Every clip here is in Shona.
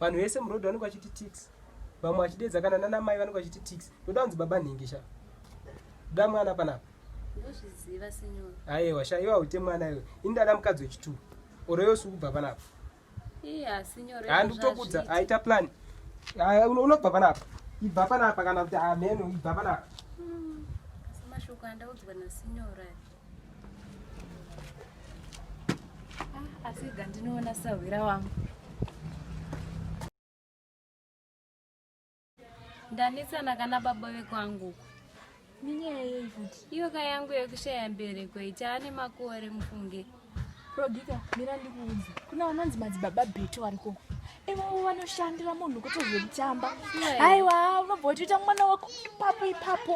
vanhu vese muroad vanenge vachiti tix vamwe vachidedza kana nana mai vanenge vachiti tix ndoda kunzi baba nhingi sha da mwana panapa aiwa sha iwa ute mwana iwe ini ndada mukadzi wechituru oro yose ukubva panapa handikutokudza aita plan unobva panapa ibva panapa kana kuti ameno ibva panapa hmm, mashoko andaudzwa nasinyora Ah, asi ga ndinoona sahwira wangu ndanisana kana baba vekwangu minyaya yei kuti iyo ka yangu yekushaya mbereko itaane makore mufunge prodika mira ndikuudza kuna vanonzi madzibaba beto varikoko ivovo vanoshandira munhu kuti zvekutamba haiwa unobva uchiita mwana wako ipapo ipapo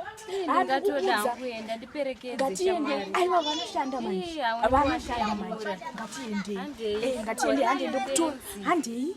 ngatiende aiwa vanoshanda manjevanoshanda manje ngatiende eh, ngatiende hande ndokutora handei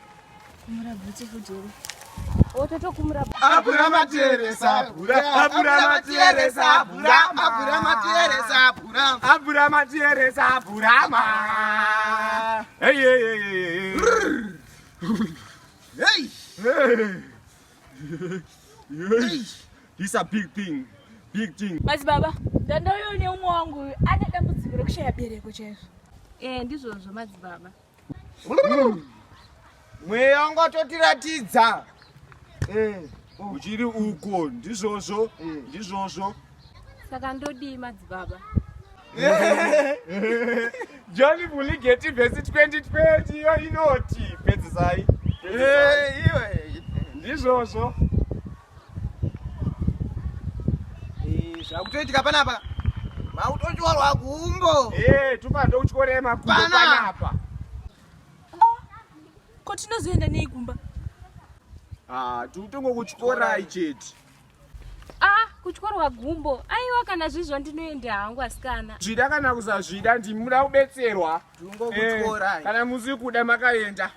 He's a big thing. Big thing. Mas baba, danda uyo ne umwe wangu ane dambudziko rekushaya bereko chaizvo. Eh, ndizvozvo madzibaba. mweya wangu watotiratidza eh, oh. uchiri uko ndizvozvo eh. ndizvozvo saka ndodii madzibaba john vuligeti vhesi 2020 iyo inoti pedzisai eh, ndizvozvo zvakutoitika panapa makutochorwa kumbo eh, tupando kuchorema kumbo panapa ko tinozoenda nei kumba ah, tiutongo kuchikorai chete ah, kuchorwa gumbo aiwa kana zvizvo ndinoenda hangu asikana zvida kana kusazvida ndimuda kubetserwa eh, kana musi kuda makaenda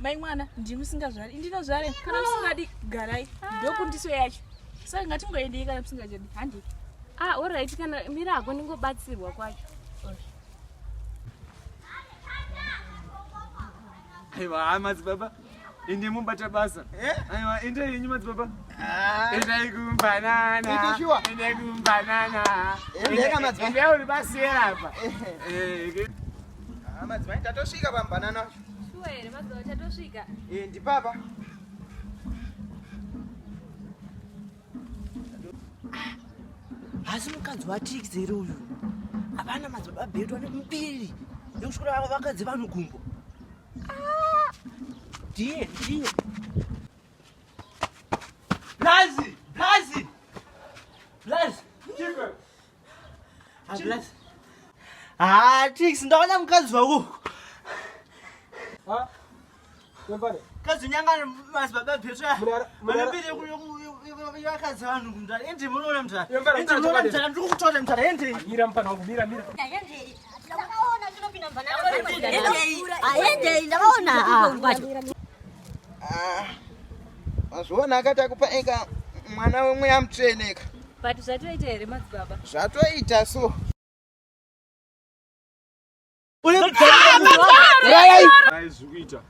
mai mwana ndimi musingazvari indinozvare kana musingadi garai ndokundiso yacho saka ngatingoendei kana musingachadi handi ah orit kana mira hako ndingobatsirwa kwacho aiwa haa madzibaba ende mubata basa eh? aiwa enda yenyu madzibaba ah. endai kumbananaendai kumbanana endauri basiyera apa eh. eh, ah, madzimai tatosvika pambanana Shuwa here mazuva achatosvika? Eh, ndipapa. Hasi mukadzi waTix here uyu? Havana madzibaba bedu ane mbiri yekusvikira vava vakadzi vanhu gumbo. Ah! Ndiye, ndiye. Blazi, Blazi. Blazi. Chikwe. hatix ndaona mukadzi wako kadzi nyangani mazibaba bhetsvayavakadzi vanhu mdara endi munoona mdara endi munoona mdara ndiri kukutora mdara endi mazviona akati akupa eka mwana wemweya mutsveneka but zvatoita here madzibaba zvatoita so zvikuita